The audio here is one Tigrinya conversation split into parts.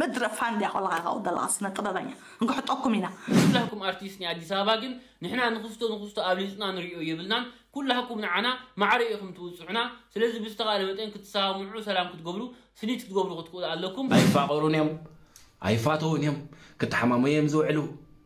ምድረ ፋንድያ ኮለኻ ካብ ዘለኻ ስነ ጥበበኛ ንክሕጠኩም ኢና ኩላኩም ኣርቲስት ናይ ኣዲስ ኣበባ ግን ንሕና ንክስቶ ንክስቶ ኣብሊጽና ንሪኦ የብልናን ኩላኩም ንዓና ማዕረ ኢኩም ትብጽሑና ስለዚ ብዝተካለ መጠን ክትሰማምዑ ሰላም ክትገብሩ ስኒት ክትገብሩ ክትክእሉ ኣለኩም ኣይፋቀሩን እዮም ኣይፋተውን እዮም ክተሓማመዩ እዮም ዝውዕሉ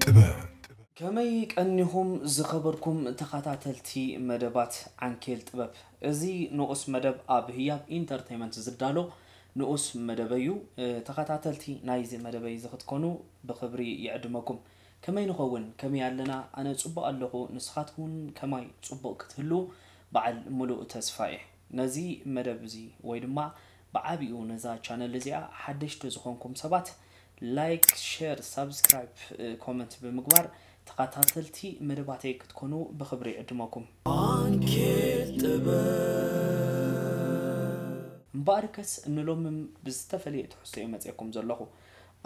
ጥበብ። ከመይ ቀኒኹም ዝኸበርኩም ተኻታተልቲ መደባት ዓንኬል ጥበብ። እዚ ንኡስ መደብ ኣብ ህያብ ኢንተርተይመንት ዝዳሎ ንኡስ መደበይ'ዩ። ተኻታተልቲ ናይዚ መደበይ'ዚ ክትኮኑ ብኽብሪ ይዕድመኩም። ከመይ ንኸውን? ከመይ ኣለና? ኣነ ጽቡቕ ኣለኹ ንስኻትኩም'ውን ከማይ ጽቡቕ ክትህልዉ በዓል ምሉእ ተስፋ'የ። ነዚ መደብ'ዚ ወይ ድማ ብዓቢኡ ነዛ ቻነል እዚኣ ሓደሽቲ ዝኾንኩም ሰባት ላይክ ሸር ሳብስክራይብ ኮመንት ብምግባር ተኻታተልቲ መደባተይ ክትኮኑ ብኽብሪ ይዕድመኩም። ባንኬት ጥበብ። እምበኣርከስ ንሎምም ብዝተፈለየ ትሕዝቶ እየ መጼኩም ዘለኹ።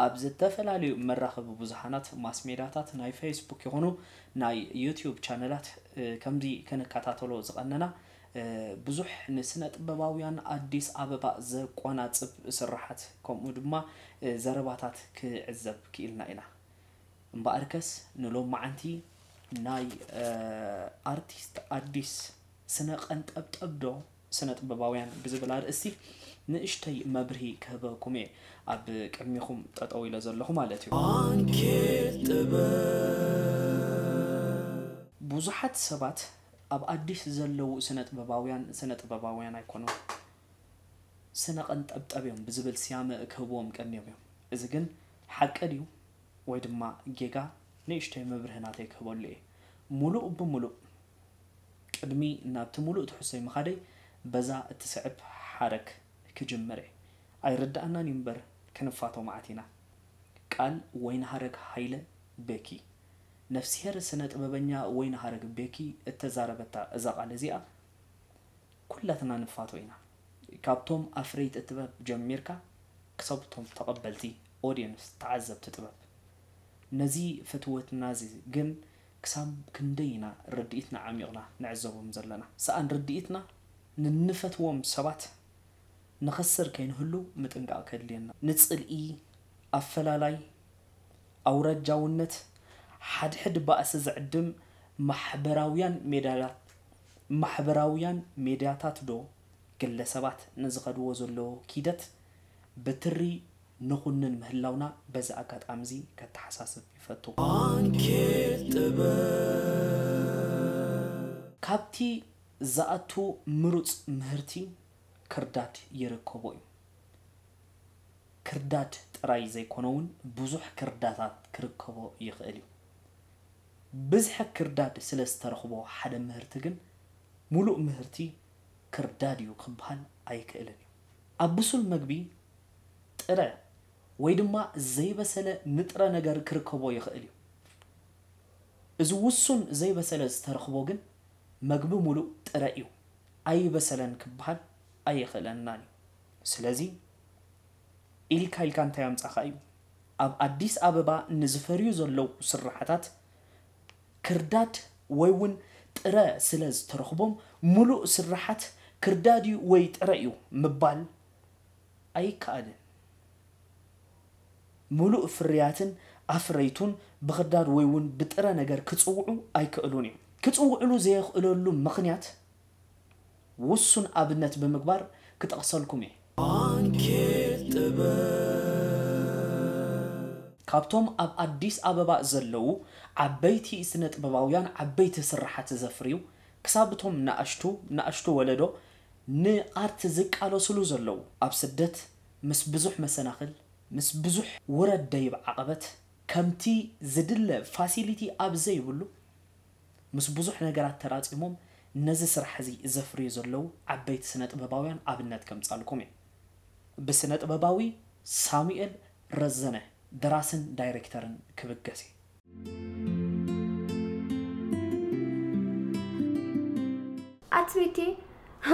ኣብ ዝተፈላለዩ መራኸቢ ብዙሓናት፣ ማስሜዳታት፣ ናይ ፈይስቡክ ይኹኑ ናይ ዩቱዩብ ቻነላት ከምዚ ክንከታተሎ ዝቐነና ብዙሕ ንስነጥበባውያን ኣዲስ ኣበባ ዘቆናጽብ ስርሓት ከምኡ ድማ ዘረባታት ክዕዘብ ክኢልና ኢና። እምበኣርከስ ንሎምዓንቲ ናይ ኣርቲስት ኣዲስ ስነ ቀንጠብጠብ ዶ ስነጥበባውያን ብዝብል ኣርእስቲ ንእሽተይ መብርሂ ክህበኩም'የ ኣብ ቅድሚኹም ጠጠው ኢለ ዘለኹ ማለት'ዩ። ኣንኬል ጥበብ። ብዙሓት ሰባት ኣብ ኣዲስ ዘለዉ ስነጥበባውያን ስነጥበባውያን ኣይኮኑን ስነ ቀንጠብጠብ እዮም ብዝብል ስያመ ክህብዎም ቀንዮም እዮም እዚ ግን ሓቂ ድዩ ወይ ድማ ጌጋ ንእሽቶይ መብርሂ ናተይ ክህበሉ እየ ሙሉእ ብሙሉእ ቅድሚ ናብቲ ሙሉእ ትሕዝቶይ ምኻደይ በዛ እትስዕብ ሓረግ ክጅምር እየ ኣይርደኣናን እዩ እምበር ክንፋቶ መዓት ኢና ቃል ወይንሃረግ ሃይለ ቤኪ ነፍስሄር ስነ ጥበበኛ ወይንሃረግ ቤኪ እተዛረበታ እዛ ቃል እዚኣ ኩላትና ንፋቶ ኢና ካብቶም ኣፍረይቲ ጥበብ ጀሚርካ ክሳብ እቶም ተቐበልቲ Audience ተዓዘብቲ ጥበብ ነዚ ፍትወትና እዚ ግን ክሳብ ክንደይ ኢና ርድኢትና ዓሚቕና ንዕዘቦም ዘለና ሰኣን ርድኢትና ንንፈትዎም ሰባት ንኸስር ከይንህሉ ምጥንቃቕ ከድልየና። ንጽልኢ፣ ኣፈላላይ፣ ኣውራጃውነት፣ ሓድሕድ ባእሲ ዝዕድም ማሕበራውያን ሜዳታት ማሕበራውያን ሜድያታት'ዶ ግለሰባት ንዝኸድዎ ዘለዎ ኪደት ብትሪ ንኹንን ምህላውና በዚ ኣጋጣሚ'ዚ ከተሓሳስብ ይፈቱ። ዓንኬል ጥበብ። ካብቲ ዝኣቱ ምሩጽ ምህርቲ ክርዳድ ይርከቦ እዩ። ክርዳድ ጥራይ ዘይኮነውን ብዙሕ ክርዳታት ክርከቦ ይኽእል እዩ። ብዝሒ ክርዳድ ስለ ዝተረኽቦ ሓደ ምህርቲ ግን ሙሉእ ምህርቲ ክርዳድ እዩ ክበሃል ኣይክእልን እዩ። ኣብ ብሱል መግቢ ጥረ ወይ ድማ ዘይበሰለ ንጥረ ነገር ክርከቦ ይኽእል እዩ። እዚ ውሱን ዘይበሰለ ዝተረኽቦ ግን መግቢ ሙሉእ ጥረ እዩ። ኣይበሰለን ክበሃል ኣይኽእለናን እዩ ስለዚ ኢልካ ኢልካ እንታይ ኣምጻኻ እዩ ኣብ ኣዲስ ኣበባ ንዝፈርዩ ዘለዉ ስርሓታት ክርዳድ ወይ ውን ጥረ ስለ ዝተረኽቦም ሙሉእ ስርሓት ክርዳድ እዩ ወይ ጥረ እዩ ምባል ኣይከኣልን። ምሉእ ፍርያትን ኣፍረይቱን ብኽርዳድ ወይ ውን ብጥረ ነገር ክጽውዑ ኣይከእሉን እዮም። ክጽውዕሉ ዘየኽእለሉ ምኽንያት ውሱን ኣብነት ብምግባር ክጠቕሰልኩም እየ። ዓንኬል ጥበብ። ካብቶም ኣብ ኣዲስ ኣበባ ዘለዉ ዓበይቲ ስነጥበባውያን ዓበይቲ ስርሓት ዘፍርዩ ክሳብ እቶም ናእሽቱ ናእሽቱ ወለዶ ንኣርት ዝቃለስሉ ዘለዉ ኣብ ስደት ምስ ብዙሕ መሰናኽል፣ ምስ ብዙሕ ውረድ ደይብ ዓቐበት፣ ከምቲ ዝድለ ፋሲሊቲ ኣብ ዘይብሉ፣ ምስ ብዙሕ ነገራት ተራጺሞም ነዚ ስራሕ እዚ ዘፍርዩ ዘለዉ ዓበይቲ ስነጥበባውያን ኣብነት ከምጻልኩም እየ። ብስነጥበባዊ ሳሙኤል ረዘነ ደራስን ዳይሬክተርን ክብገስ እየ። ኣትቤቴ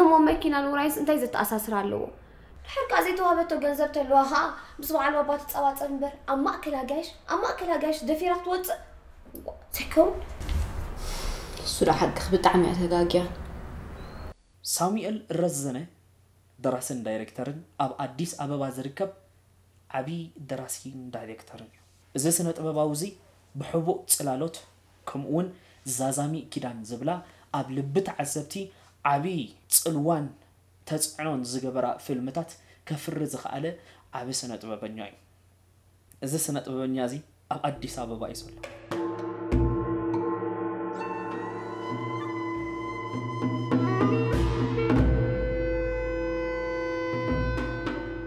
እሞ መኪናን ውራይስ እንታይ ዘተኣሳስር ኣለዎ? ድሕርካ ዘይተዋህበቶ ገንዘብ ተለዋ ኸኣ ምስ በዓል ባባ ትጸባጸብ እምበር ኣብ ማእከል ኣጋይሽ ኣብ ማእከል ኣጋይሽ ደፊራ ክትወጽእ ዘይከውን እሱ ዶ ሓቅኺ ብጣዕሚ እያ ተጋግያ። ሳሙኤል ረዘነ ደራስን ዳይሬክተርን ኣብ ኣዲስ ኣበባ ዝርከብ ዓብዪ ደራሲን ዳይሬክተርን እዩ። እዚ ስነ-ጥበባዊ'ዚ ብሕቡእ ጽላሎት ከምኡ'ውን ዛዛሚ ኪዳን ዝብላ ኣብ ልቢ ተዓዘብቲ ዓቢ ጽልዋን ተጽዕኖን ዝገበራ ፊልምታት ከፍሪ ዝኸኣለ ዓቢ ስነ-ጥበበኛ'ዩ። እዚ ስነ-ጥበበኛ'ዚ ኣብ ኣዲስ ኣበባ'ዩ ዘሎ።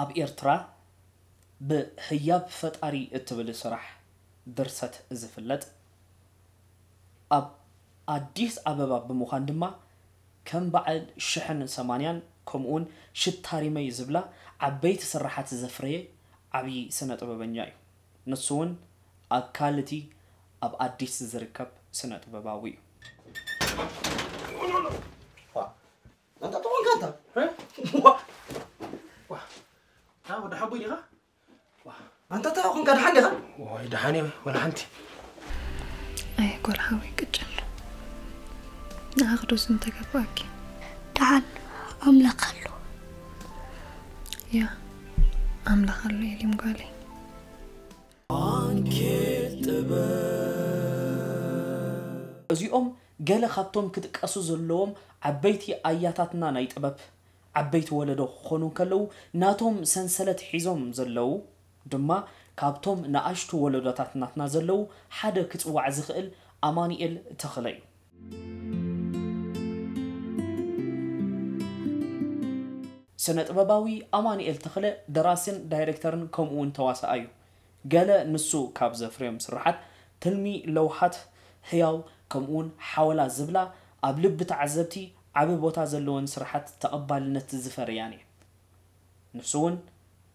ኣብ ኤርትራ ብ ህያብ ፈጣሪ እትብል ስራሕ ድርሰት ዝፍለጥ ኣብ ኣዲስ ኣበባ ብምዃን ድማ ከም በዓል ሽሕን ሰማንያን ከምኡውን ሽታ ሪመይ ዝብላ ዓበይቲ ስርሓት ዘፍረየ ዓብዪ ስነ ጥበበኛ እዩ። ንሱ እውን ኣካል እቲ ኣብ ኣዲስ ዝርከብ ስነ ጥበባዊ እዩ። ኣንታ ተኾንካ ኣንታ ወዲ ሓቦይ ዲኻ ኣንታ እንታይ ኾንካ ድሓን ዲኻ ወይ ድሓን እየ ወላ ሓንቲ ኣይ ጓል ሓወይ ቅጭል ንኣኽዶስ እንተገባኣኪ ድሓን ኣምላኽ ኣሎ ያ ኣምላኽ ኣሎ የሊም ጓለይ እዚኦም ገለ ካብቶም ክጥቀሱ ዘለዎም ዓበይቲ ኣያታትና ናይ ጥበብ ዓበይቲ ወለዶ ክኾኑ እንከለዉ ናቶም ሰንሰለት ሒዞም ዘለዉ ድማ ካብቶም ንኣሽቱ ወለዶታት ናትና ዘለዉ ሓደ ክጽዋዕ ዝኽእል ኣማኑኤል ተኽለ እዩ። ስነ-ጥበባዊ ኣማኑኤል ተኽለ ደራሲን ዳይረክተርን ከምኡ'ውን ተዋሳኣይ እዩ። ገለ ንሱ ካብ ዘፍርዮም ስርሓት፣ ትልሚ፣ ለውሃት፣ ህያው፣ ከምኡ'ውን ሓወላ ዝብላ ኣብ ልቢ ተዓዘብቲ ዓቢ ቦታ ዘለወን ስርሓት ተቐባልነት ዝፈረያን እየን። ንሱ'ውን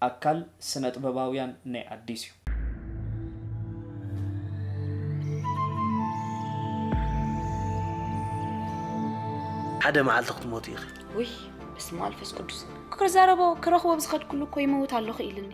ኣካል ስነጥበባውያን ናይ ኣዲስ እዩ። ሓደ መዓልቲ ክትሞቲ ኢኺ። ውይ በስመኣልፈስቁዱስ ክዛረቦ ክረኽቦ ብዝኸድኩሉ እኮ ይመውት ኣለኹ ኢልኒ።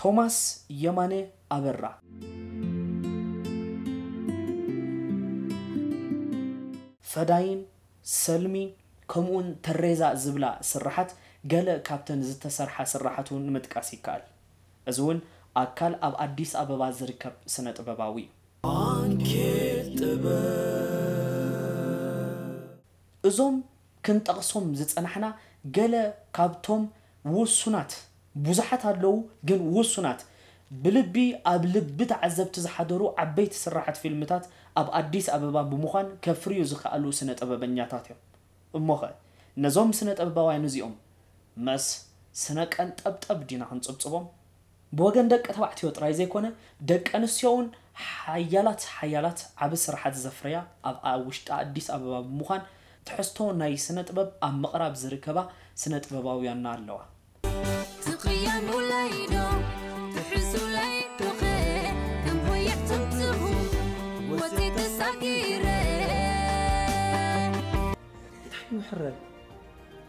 ቶማስ የማነ ኣበራ። ፈዳይን፣ ሰልሚ፣ ከምኡውን ተሬዛ ዝብላ ስርሓት ገለ ካብተን ዝተሰርሓ ስርሓት እውን ምጥቃስ ይከኣል። እዚ እውን ኣካል ኣብ ኣዲስ ኣበባ ዝርከብ ስነ-ጥበባዊ እዩ። ባንኬት ጥበብ። እዞም ክንጠቕሶም ዝጸናሕና ገለ ካብቶም ውሱናት፣ ብዙሓት ኣለዉ ግን ውሱናት፣ ብልቢ ኣብ ልቢ ተዓዘብቲ ዝሓደሩ ዓበይቲ ስራሓት ፊልምታት ኣብ ኣዲስ ኣበባ ብምዃን ከፍርዩ ዝኸኣሉ ስነ-ጥበበኛታት'ዮም። እሞ'ኸ ነዞም ስነ-ጥበባውያን'ዚኦም መስ ስነ-ቀንጠብጠብ ዲና ክንጽብጽቦም? ብወገን ደቂ ተባዕትዮ ጥራይ ዘይኮነ ደቂ ኣንስትዮ'ውን ሓያላት ሓያላት ዓቢ ስርሓት ዘፍረያ ኣብ ኣብ ውሽጢ ኣዲስ ኣበባ ብምዃን ትሕዝቶ ናይ ስነ ጥበብ ኣብ ምቕራብ ዝርከባ ስነ ጥበባውያንና ኣለዋ። ትቕየሙለይ ዶ ትሕሱለይ ዶኸ ከም ሆየት ትምትኹ ወጽየ ተሳጊረ። እንታይ ይውሕረል?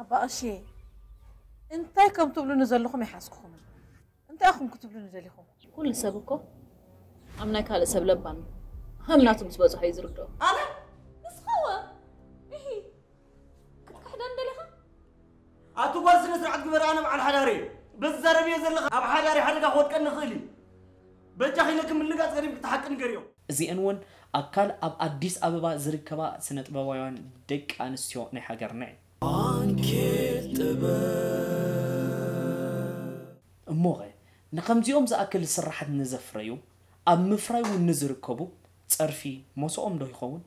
ኣባ ቀሺ እንታይ ከም ትብሉኒ ዘለኹም ኣይሓዝኩኹምን። እንታይ ኢኹም ክትብሉኒ ደሊኹም? ኩሉ ሰብ እኮ ኣብ ናይ ካልእ ሰብ ለባም እዩ። ሃም ናቱ ምስ በጽሖ እዩ ዝርድኦ። ኣነ ንስኻወ እሂ ክትክሕደን ደሊኻ? ኣቲ ጓል ስነ ስርዓት ግበሪ ኣነ በዓል ሓዳር እየ። ብትዛረብዮ ዘለኻ ኣብ ሓዳሪ ሓደጋ ክወድቀኒ ይኽእል እዩ። በጃኺ ነኪ ምልጋጽ ገዲፍኪ እቲ ሓቂ ንገርዮም። እዚኤን እውን ኣካል ኣብ ኣዲስ ኣበባ ዝርከባ ስነጥበባውያን ደቂ ኣንስትዮ ናይ ሃገርና እየን። ዓንኬል ጥበብ! እሞኸ ንኸምዚኦም ዝኣክል ስርሓት ንዘፍረዩ፣ ኣብ ምፍራይ እውን ንዝርከቡ ፀርፊ ሞሰኦም ዶ ይኸውን?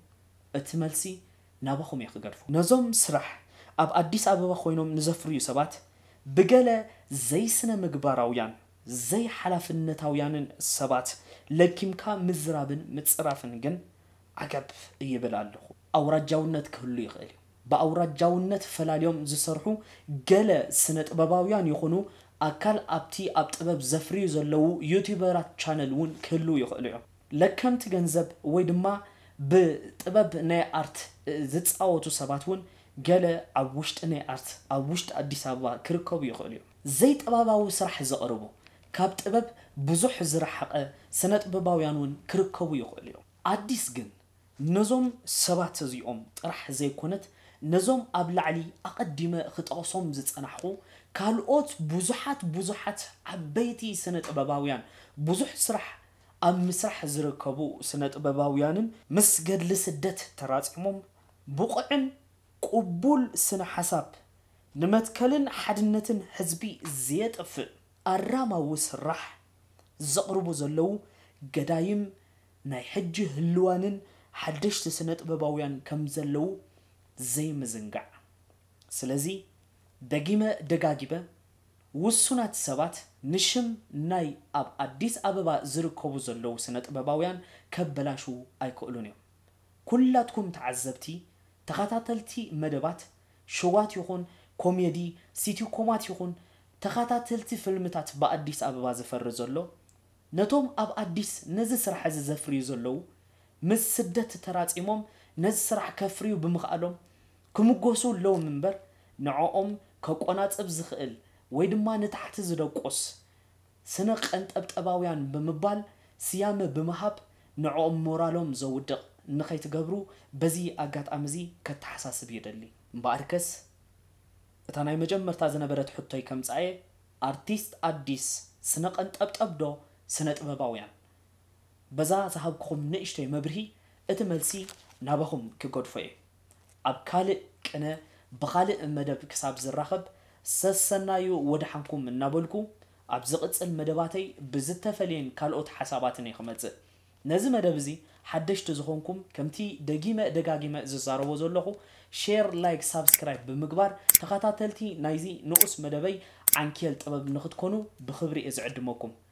እቲ መልሲ ናባኹም እየ ክገድፎ። ነዞም ስራሕ ኣብ ኣዲስ ኣበባ ኮይኖም ንዘፍርዩ ሰባት ብገለ ዘይስነምግባራውያን ዘይሓላፍነታውያንን ሰባት ለኪምካ ምዝራብን ምጽራፍን ግን ዓገብ ይብል ኣለኹ። ኣውራጃውነት ክህሉ ይኽእል እዩ። ብኣውራጃውነት ፈላልዮም ዝሰርሑ ገለ ስነጥበባውያን ይኹኑ ኣካል ኣብቲ ኣብ ጥበብ ዘፍርዩ ዘለዉ ዩቱበራት ቻነል እውን ክህልዉ ይኽእሉ እዮም። ለከምቲ ገንዘብ ወይ ድማ ብጥበብ ናይ ኣርት ዝጻወቱ ሰባት እውን ገለ ኣብ ውሽጢ ናይ ኣርት ኣብ ውሽጢ ኣዲስ ኣበባ ክርከቡ ይኽእሉ እዮም። ዘይጠባባዊ ስራሕ ዘቕርቡ፣ ካብ ጥበብ ብዙሕ ዝረሓቐ ስነጥበባውያን ውን ክርከቡ ይኽእሉ እዮም። ኣዲስ ግን ነዞም ሰባት እዚኦም ጥራሕ ዘይኮነት ነዞም ኣብ ላዕሊ ኣቐዲመ ክጠቕሶም ዝጸናሕኩ ካልኦት ብዙሓት ብዙሓት ዓበይቲ ስነጥበባውያን ብዙሕ ስራሕ ኣብ ምስራሕ ዝርከቡ ስነጥበባውያንን ምስ ገድሊ ስደት ተራጺሞም ብቑዕን ቅቡል ስነ ሓሳብ ንመትከልን ሓድነትን ህዝቢ ዘየጥፍእ ኣራማዊ ስራሕ ዘቕርቡ ዘለዉ ገዳይም ናይ ሕጂ ህልዋንን ሓደሽቲ ስነጥበባውያን ከም ዘለዉ ዘይምዝንጋዕ። ስለዚ ደጊመ ደጋጊበ ውሱናት ሰባት ንሽም ናይ ኣብ ኣዲስ ኣበባ ዝርከቡ ዘለዉ ስነጥበባውያን ከበላሽዉ ኣይክእሉን እዮም። ኩላትኩም ተዓዘብቲ ተኻታተልቲ መደባት ሸዋት ይኹን ኮሜዲ ሲቲኮማት ይኹን ተኻታተልቲ ፍልምታት ብኣዲስ ኣበባ ዝፈሪ ዘሎ ነቶም ኣብ ኣዲስ ነዚ ስራሕ እዚ ዘፍርዩ ዘለዉ ምስ ስደት ተራጺሞም ነዚ ስራሕ ከፍርዩ ብምኽኣሎም ክምጎሱ ኣለዎም እምበር ንዕኦም ከቆናጽብ ዝኽእል ወይ ድማ ንታሕቲ ዝደቁስ ስነ-ቐንጠብጠባውያን ብምባል ስያመ ብምሃብ ንዕኦም ሞራሎም ዘውድቕ ንኸይትገብሩ በዚ ኣጋጣሚ'ዚ ከተሓሳስብ ይደሊ። እምበኣርከስ እታ ናይ መጀመርታ ዝነበረት ሕቶይ ከምጽኣ'የ፣ ኣርቲስት ኣዲስ ስነ-ቐንጠብጠብ ዶ ስነ-ጥበባውያን? በዛ ዝሃብኩኹም ንእሽቶይ መብርሂ እቲ መልሲ ናባኹም ክገድፎ እየ። ኣብ ካልእ ቅነ ብኻልእ መደብ ክሳብ ዝራኸብ ሰሰናዩ ወደሓንኩም እናበልኩ ኣብ ዝቕጽል መደባተይ ብዝተፈልየን ካልኦት ሓሳባትን እየ ክመጽእ። ነዚ መደብ እዚ ሓደሽቲ ዝኾንኩም ከምቲ ደጊመ ደጋጊመ ዝዛረቦ ዘለኹ ሼር ላይክ ሳብስክራይብ ብምግባር ተኸታተልቲ ናይዚ ንኡስ መደበይ ዓንኬል ጥበብ ንኽትኮኑ ብኽብሪ እየ ዝዕድመኩም።